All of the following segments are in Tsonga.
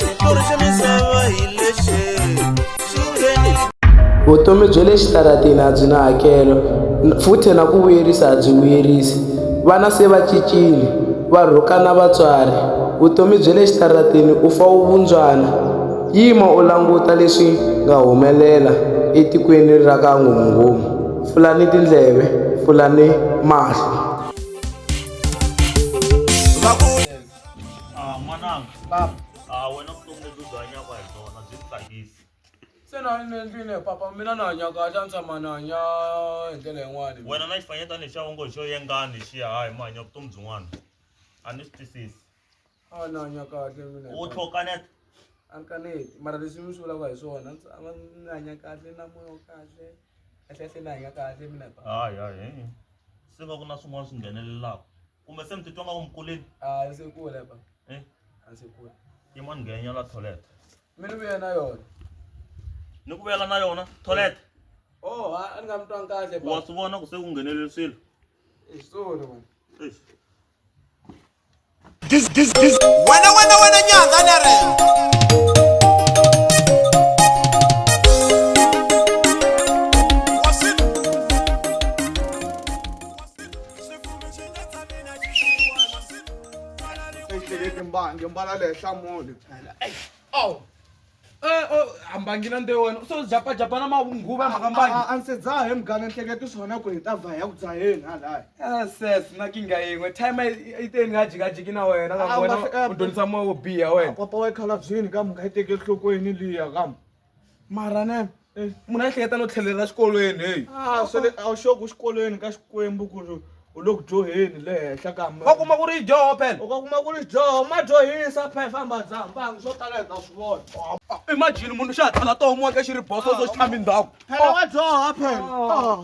xitori xa misava hi lexi sungeni vutomi bya le xitarateni a byi na hakelo futhi na ku vuyerisa a byi vuyerisi vana se va cincile va rhukana vatswari vutomi bya le xitarateni u fa u vundzwana yima u languta leswi nga humelela etikweni ra ka nghomunghomu pfulani tindleve pfulani mahlo Ah, n'wananga papa ah, wena vutomi lebyi u byi hanyaka hi byona byi ku tsakisi se na ni endlile papa mina na hanya kahle a ni tshama ni hanya hi ndlela yin'wani wena na xifanyetana lexiya u ngo hi xo yengani xiya hayi mi hanya vutomi byin'wana a ni swi twisisi a ni hanya kahle mina u tlhokaneta a ni kaneti mara leswi mi swi vulaka hi swona ni tshama ni hanya kahle na moya wa kahle kahle kahle ni hanya kahle mina papa hayi hayi se va ku na swin'wana swi nghenelelaka kumbe se mi titwa nga umkuleni a ndzi kule ba eh? a ndzi kule yi mani nghenya la toilet mi ni vuye na yona ni ku vuyela na yona toilet oh ha a ni nga mi twangi kahle wa swi vona ku se ku ngheneleli swilo i switori wena This, this, this. Wena, wena, wena, nyanga, nere. ehlekeke mbangi mbala le henhla mole awu hambangi na nde wena u so japajapa na mavunguva mhaka mbangi a ndzi dzaha hi mugana nhleketi swona ku hi ta va ya ku dzaheni halaya ah, ses na kinga yin'we time yi te ni nga jikajiki na wena ka wena u dyondzisa moya wo biha wena papa wa yi khalabyini ka mhaka yi teke enhlokweni liya kam mara ne munhu a hleketa no tlhelela xikolweni heyi Ah, swa le a wu xoki u xikolweni ka xikwembu ku ri u le ku dyoheni le henhla ka mi- va kuma ku ri dyoho phela u ka kuma ku ri dyoho ma dyohisa phe famba dzambanga swo tala hi ta swi vona imagine munhu xa ha tala tohomiweke xi ri boso so xi tshami ndhawu phela wa dyoha phela Ah.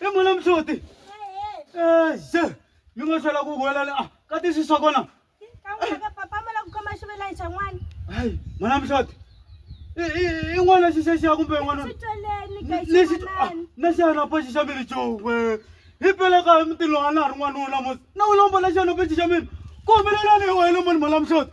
i mona mhloti exe mi nga tlhela ku huwelela a ah, ka tisiso kona hayi mona mhloti i n'wana xisexiya kumbe n'wana ah, na xihanapa xi xa mi ri cowe hi peleka hi mutini lowa na ha ri n'wanuna mos na u lombola xihanapa xi xa mina ku humelelani hi wena mani mona mhloti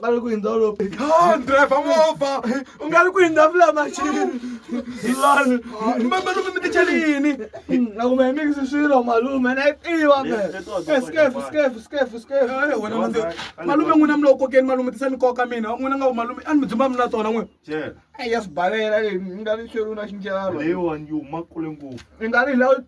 ngari kuinda ulope driver movha u nga ri kuinda vula machini lani malume mi tichalini akume hi mikisi swilo malume na yi tiva malume n'wina mi lo kokeni malume tisa ni koka mina n'wina nga ku malume a ni mi dzumba mi na tona n'we ya swi balela leyi mi nga ri xeruna xinjalo leyiwani yi huma kule ngopfu i nga ri hi lawa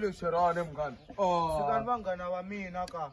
lexerane munghana vanghana va mina ka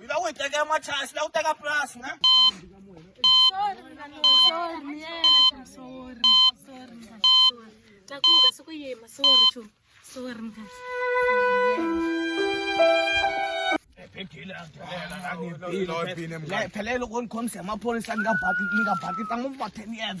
Yila u yi teka emachasi la u teka purasi ne takuka siku yima sorry chu sorry mkhathi phela loko ni khomise hi maphorisa ni nga baki ni nga baki tsangu va ten years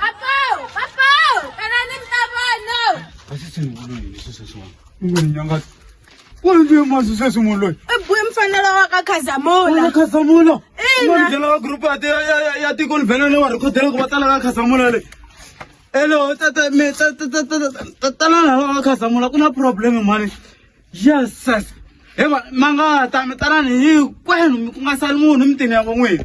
Papo, papo, tanani mtavano. Basisi ngulweni lesi sesona. Nginyanga. Kwanje manje sesimoni loyi. Ebuye mfanelo wa ka Khazamula. Wena Khazamula. Ina. Umandlela wa group ate ya ya ya tiko livhele lewa rikhodela ku va tala ka Khazamula le. Hello tata me tata tata tala la ka Khazamula ku na problem mani. Yes sis. Hema mangata mi tala ni hinkwenu ku nga sali munhu mitini ya van'wini.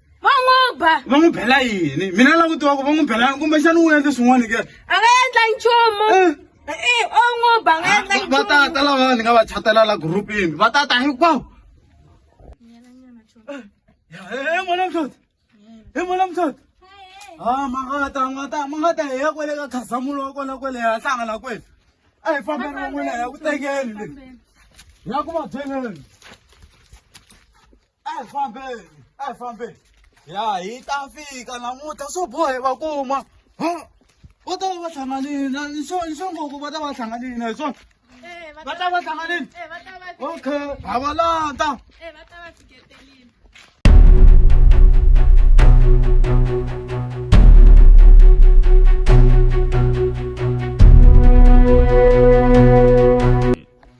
va n'wi ba va n'wi bela yini mina lava ku tiva ku va n'wi belani kumbexana u endle swin'wana ke a nga endla nchumu eh. Eh, o n'wi ba nga endla nchumu va tata lava ni nga va chatela la gurupini va tata hinkwawo he mona mhloti he mona mhloti ha ma nga ta ma ta ma nga ta hi ya kwele ka khazamulo wa kona kwele ya hlangana kwele a hi fambeni van'wina ya ku tekeni le ya ku va byeleni Eh, fambeni, eh, fambeni. Ya hi ta fika namuntlha swo bohe va kuma. Ha? Va ta va va hlanganile na ni swo ni swo ngopfu va ta va hlanganile na hi swona. Eh, va Va ta ta va hlanganile. Eh, va ta va fi- Okay, ha va landa. eh, va ta va fiketelile.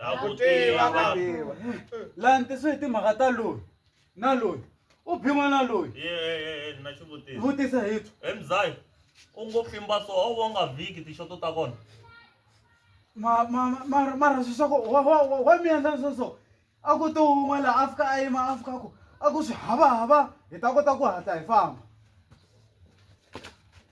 Ha ku tiva ka. tiva laha ni tisiwe hi timhaka ta loyi na loyi u bhin'we na loyi Ye, ye, ye, ye, na xivutiso. vutisa hi tu He mzai, u ngo fimba so, a wu vonga vhiki tixoto ta kona. ma- ma- ma- ma- mara swi swa ku wa- wa- wa- wa mi endla swo so a ku to wun'we laha a fika a yima a fika ku a ku swi havahava hi ta kota ku hatla hi famba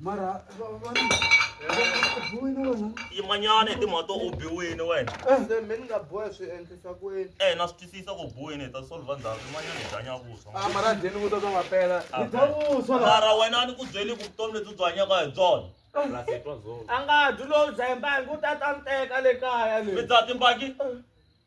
mara va- va- va- bohile wena yimanyana hi timhaka to u biwini wena se mi ni nga boha swi endlisa ku yini e na swi twisisa ku biwini hi ta solva ndzhaku yimanyana hi dlanya vuswa a mara dyeni vuta bya mapela hi dya vuswa la mara wena a ni ku byeli ku vutomi lebyi u byi hanyaka hi byona a nga dyi lowu dzaye mbangi u ta ta ni teka le kaya mi le dzaha timbaki